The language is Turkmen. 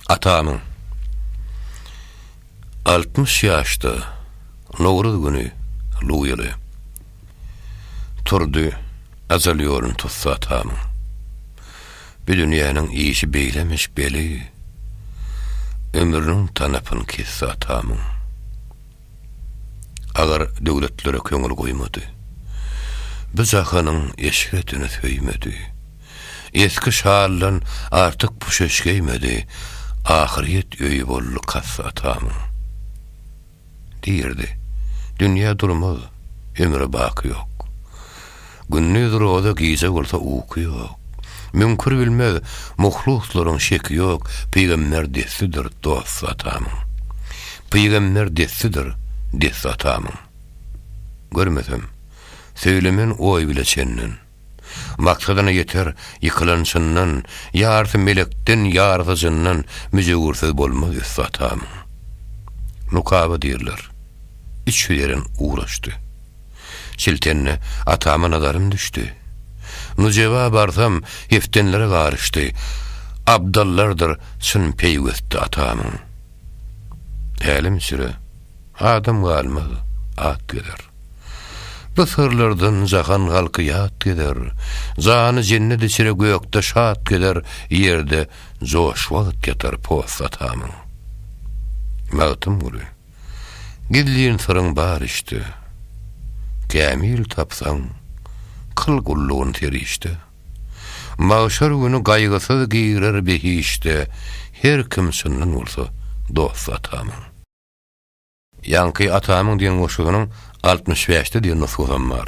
Atamyň altmyş ýaşda Nowruz güni Luýaly turdy Ajal ýolun tutsa atamyň Bu dünýäniň işi beýlemiş beli Ömrüniň tanapyn kesdi atamyň. Agar döwletlere köňül goýmady. Bu jahanyň eşretini söýmedi. Esgi şaldan artyk puşeş geýmedi, Ahyryýet öýi boldy kassa atamyň. Diýerdi, Dünýä durmaz, ömre baky ýok. Gündiz roza gije bolsa uky ýok. Müňkür bilmez, muhluslaryň şeki ýok, Pygamber destidir dost atamyň. Pygamber destidir dest atamyň. Görmesem, söýlemen oý bile çenden. Maksadyna ýeter ýykylan çyndan, Ýarysy melekden, ýarysy jyndan, Müjewürsiz bolmaz üsti atamyň. Nukaba diýrler. Üç ýüz eren ugraşdy. Siltende atama nazarym düşdi. Nujeba barsam, heftenlere garyşdy. Abdallardyr çyn peýwesti atamyň. Hälim-süre, adam galmaz, at gezer. Bu syrlardan jahan halky ýat gezer. Jany jennet içre gökde şat gezer, ýerde joş wagt ýatar post atamyň. Magtymguly. Gizlin syryň bar içde. Kämil tapsaň, kyl gullugyn serişde. Magşar güni gaýgysyz girer behişde Her kim çyndan bolsa dosty atamyň. Ýaňky atamyň diýen goşgynyň altmyş bäşde diýen nusgasy hem bar.